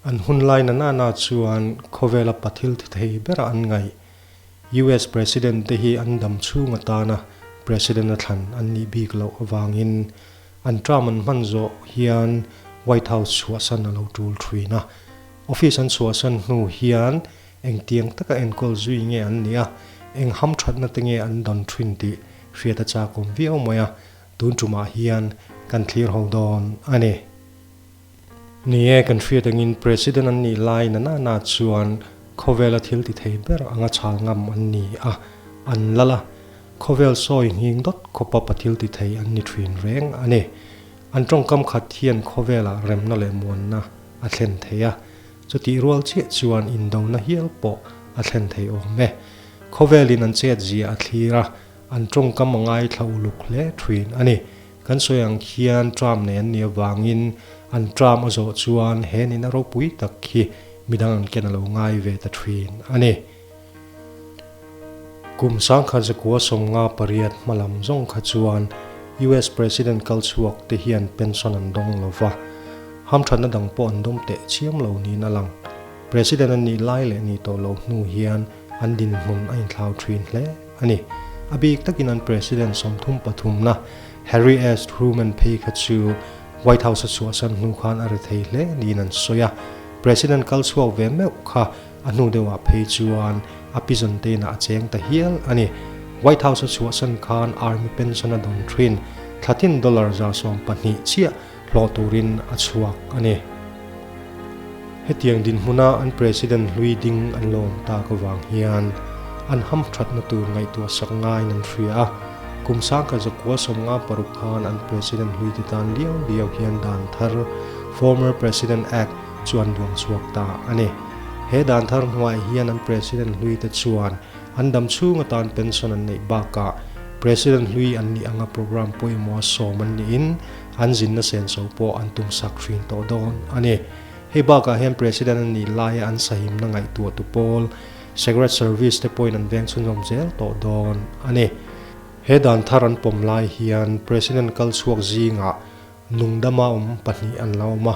An hun lai nanahna chuan khawvela pa thil thi thei berah an ngaih. US President te hi an dam chhung atana President a thlan an nih bik loh avangin, An Trump an hman zawh hian White House chhuahsan a lo tul thin a. Office an chhuahsan hnu hian engtiang taka enkawl zui nge an nih a, eng hamthatna te nge an don thin tih hriat a chakawm viau mai a, tun tumah hian kan thlir ho dawn a ni. Ni e, kan hriat angin President an nih lai nanana chuan khawvela thil ti thei ber anga chhal ngam an ni a, an la la. Khawvel sawi nghing dawt khawpa pa thil ti thei an ni thin reng a ni. An tawngkam khat hian khawvelah remna leh muanna a thlen thei a, chutih rual chiah chuan indona hial pawh a thlen thei awm e. Khawvelin an chet zia a thlir a, an tawngkam a ngaithla uluk hle thin a ni. Kan sawi ang khian Trump nei an ni avangin an Trump a zawh chuan he nina ropui tak hi midang an ken a lo ngai ve ta thin a ni. Kum sangkhat zakua sawmnga pariat hma lam zawng kha chuan US President kal chhuak te hian pension an dawng lo va, hamthatna dang pawh an dawm teh chiam lo niin a lang. President an nih lai leh ni tawh loh hnu hian an dinhmun a inthlau thin hle. a ni. A bik takin an President sawmthum pathumna Harry S. Truman phei kha chu White House a chhuahsan hnu khan a ri thei hle niin an sawi a. President kal chhuak ve meuh kha a hnu deuhah phei chuan a pi Jontena a cheng ta hial a ni. White House a chhuahsan khan Army pension a dawn thin, thlatin dollar za sawm pahnih chiah hlawh turin a chhuak a ni. Hetiang dinhmuna an President hlui ding an lawm tak avang hian an ham thatna tur ngaihtuah sak ngaiin an hria a, kum sangka zakua sawmnga paruk khan an President hluite tan riau riau hian dan thar, Former President Act, chu an duang chhuak ta a ni. He dan thar hnuaih hian an President hluite chuan an dam chhung atan pension an neih bakah President hlui an nih anga program pawimawh a sawm an niin an zinna sen so pawh an tum sak hrin tawh dawn a ni. Hei bakah hian President a nih laia an sahimna ngaihtuah tu pawl, Secret Service te pawhin an veng chhunzawm zel tawh dawn a ni. He dan thar an pawm lai hian President kal chhuak zingah nungdama awm pahnih an lo awm a,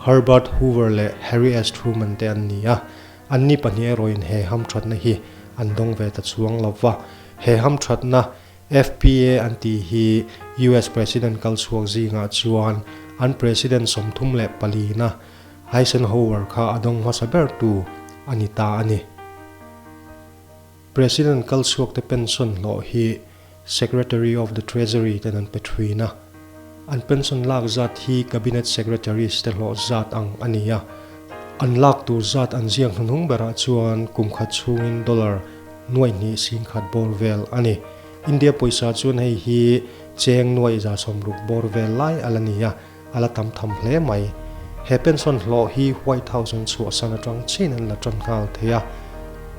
Herbert Hoover leh Harry S. Truman te an ni a. Anni pahnih erawhin he hamthatna hi an dawng ve ta chuang lo va, he hamthatna FPA an tih hi US President kal chhuak zingah chuan an President sawmthum leh palina Eisenhower kha a dawng hmasa bertu a ni ta a ni. President kal chhuakte pension hlawh hi Secretary of the Treasury ten an pe thin a. An pension lak zat hi Cabinet Secretaries te hlawh zat ang a ni a, an lak tur zat an ziak hnunhung berah chuan kum khat chhungin dollar nuai hnih sing khat bawr vel a ni. India pawisa chuan hei hi cheng nuai za sawm ruk bawr vel lai a la ni a, a la tam tham hle mai. He pension hlawh hi White House-a'n chhuahsan atang chin an la tan nghal thei a,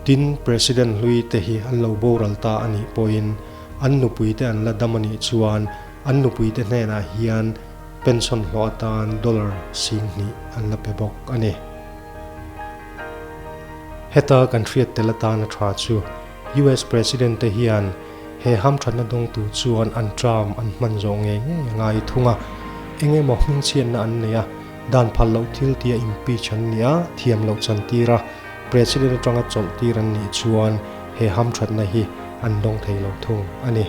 tin President hlui te hi an lo boral ta a nih pawhin, an nupuite an la dam a nih chuan an nupuite hnenah hian pension hlawh atan dollar sing hnih an la pe bawk a ni. Heta kan hriat tel atan a tha chu US President-te hian he hamthatna dawng tur chuan an ṭam an hman zawh ngei ngei a ngai thung a, eng emaw hmingchhiatna an nei a, dan phal loh thil tia impeach an nia, thiam loh chantira, President atanga chawlhtir an nih chuan he hamthatna hi an dawng thei lo thung a ni.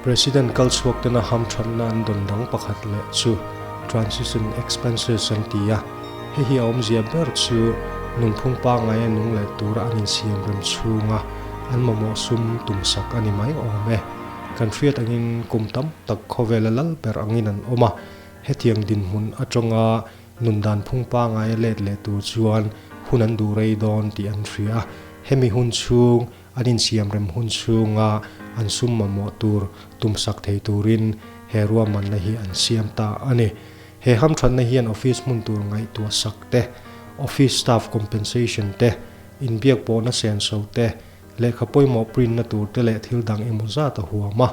President kal chhuaktena hamthatna an dawn dang pakhat leh chu transition expenses an ti a, hei hi a awmzia ber chu nunphung pangai a nung leh tura an insiam rem chhunga an mamawh sum tum sak a ni mai awm e. Kan hriat angin kum tam tak khawvela lal ber angin an awm a, hetiang dinhmun atanga Nun dan phung pangai a let leh tur chuan hun an duh rei dawn tih an hria a, hemi hun chhung an insiam rem hun chhunga an sum mamawh tur tum sak thei turin he ruahmanna hi an siam ta a ni. He hamthatna hian office hmun tur ngaihtuah sak te, office staff compensation te, inbiak pawh nasen so te, lehkha pawimawh print na tur te leh thil dang emaw zat a huam a.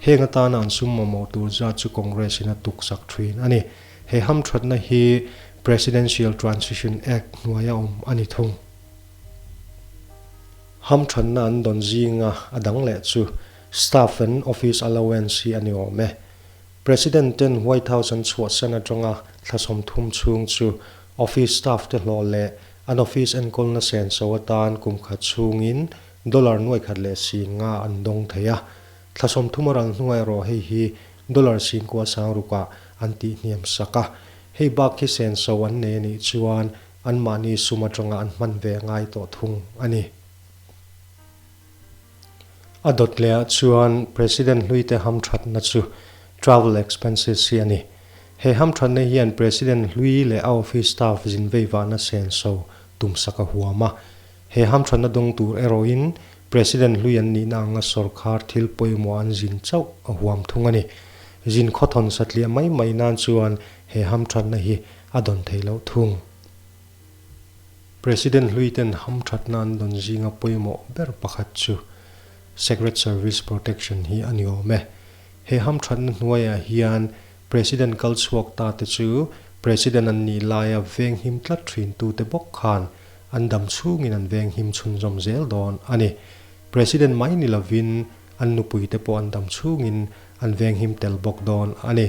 Heng atana an sum mamawh tur zat chu Congress-in a tuksak thin a ni. He hamthatna hi Presidential Transition Act hnuaia awm a ni thung. Hamthatna an dawn zinga a dang leh chu staff-a'n office allowance hi a ni awm e. President-ten White House an chhuahsan atanga thla sawmthum chhung chu office staff-te hlawh leh an office enkawlna senso atan kumkhat chhungin dollar nuaihkhat leh sin nga an dawng thei a. Thla sawmthum a rang hnuai erawh hei hi dollar sin kua sang rukah an tih hniam sak a, hei bak hi sen so an nei a nih chuan anmahni sum atanga an hman ve ngai tawh thung a ni. A dawt lehah chuan President hluite hamthatna chu travel expenses hi a ni. He hamthatna hian President hlui leh a office staff zinveivahna sen so tum sak a huam a. He hamthatna dawng tur erawhin President hlui an nihna anga sawrkar thil pawimawh an zin chauh a huam thung a ni. Zin khawthawn satliah mai mai nan chuan he hamthatna hi a dawn thei loh thung. President hlui ten hamthatna an dawn zing a pawimawh ber pakhat chu Secret Service Protection hi a ni awm e. He hamthatna hnuaiah hian President kal chhuak ta te chu President an nih laia venghim tlat thintute bawk khan an dam chhungin an veng him chhunzawm zel dawn a ni. President mai ni lovin an nupui te pawh an dam chhungin an veng him tel bawk dawn a ni.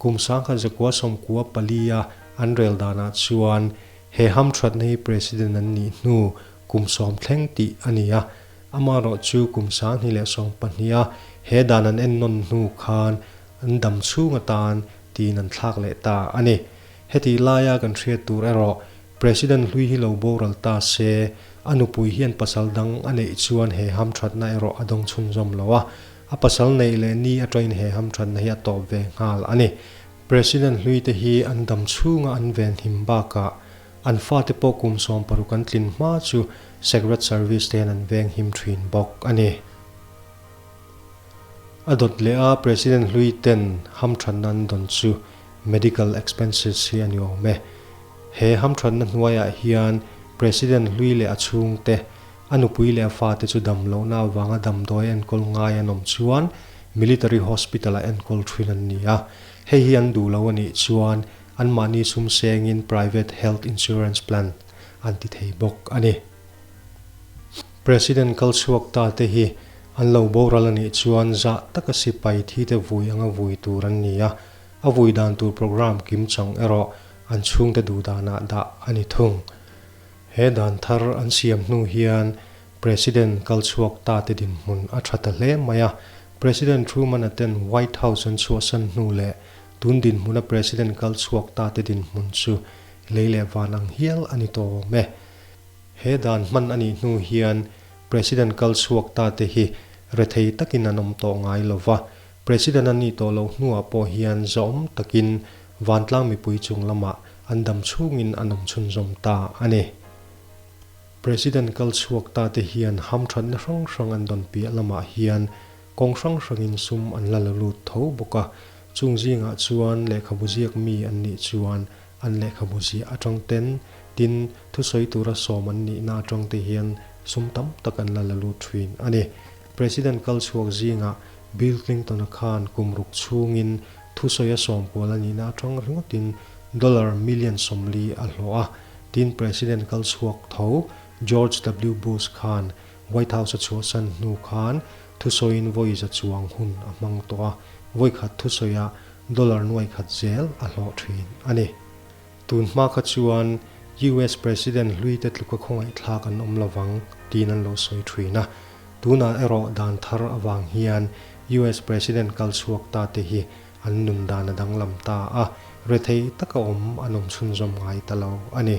Kum sangkhat zakua sawmkua pali a an rel danah chuan he ham thatna hi President an nih hnu kum sawm thleng tih a ni a, amaherawh chu kum sanghnih leh sawm pahniha he dan an en nawn hnu khan an dam chhung atan tiin an thlak leh ta a ni. Hetih laia kan hriat tur erawh President hlui hi lo boral ta se, a nupui hian pasal dang a neih chuan he hamthatna erawh a dawng chhunzawm lo a, a pasal neih leh ni atangin he hamthatna hi a tawp ve nghal a ni. President hlui te hi an dam chhunga an vel hnim bakah an fate pawh kum sawm paruk an tlin hma chu Secret Service te hian an veng him thin bawk a ni. A dawt leh a, President hlui ten hamthatna an dawn chu. medical expenses, hi a ni awm e. He hamthatna hnuaiah hian President hlui leh a chhungte, a nupui leh a fate chu dam lohna avanga damdawi a enkawl ngai an awm chuan Military Hospital-ah enkawl thin an ni a. Hei hi an duh loh a nih chuan anmahni chhum sengin Private Health Insurance Plan an ti thei bawk a ni. President kal chhuak ta te hi an lo boral a nih chuan zah taka sipai thi te vui anga vui tur an ni a, a vui dan tur programme kim chang erawh an chhung te duh danah dah a ni thung. He dan thar an siam hnu hian President kal chhuak ta te dinhmun a tha ta hle mai a, President Truman a ten White House an chhuahsan hnu leh tun dinhmuna President kal chhuak ta te dinhmun chu lei leh van ang hial a ni tawm e. He dan hman a nih hnu hian President kal chhuak ta te hi rethei takin an awm tawh ngai lo va, President an ni tawh loh hnuah pawh hian zawm takin vantlang mipui chung lamah an dam chhungin an awm chhunzawm ta a ni. President kal chhuak ta te hian hamthatna hrang hrang an dawn piah lamah hian kawng hrang hrangin sum an la lo lut tho bawk a, chung zingah chuan lehkhabu ziak mi an nih chuan, an lehkhabu ziah atang ten, tin, thusawi tura sawm an nihna atang te hian sum tam tak an la la lut thin a ni. President kal chhuak zingah Bill Clinton-a khan kum ruk chhungin thusawi a sawm kual a nihna atang ringawtin dollar million sawmli a hlawh a, tin, President kal chhuak tho George W. Bush khan White House a chhuahsan hnu khan thusawiin vawi za chuang hun a hmang tawh a, vawikhat thusawiah Dollar nuai khat zel a hlawh thin a ni. Tun hma kha chuan US President hluite tluka khawngaihthlak an awm lo vang tiin an lo sawi thin a. Tunah erawh dan thar avang hian US President kal chhuak ta te hi an nun dan a danglam ta a, rethei taka awm an awm chhunzawm ngai ta lo a ni.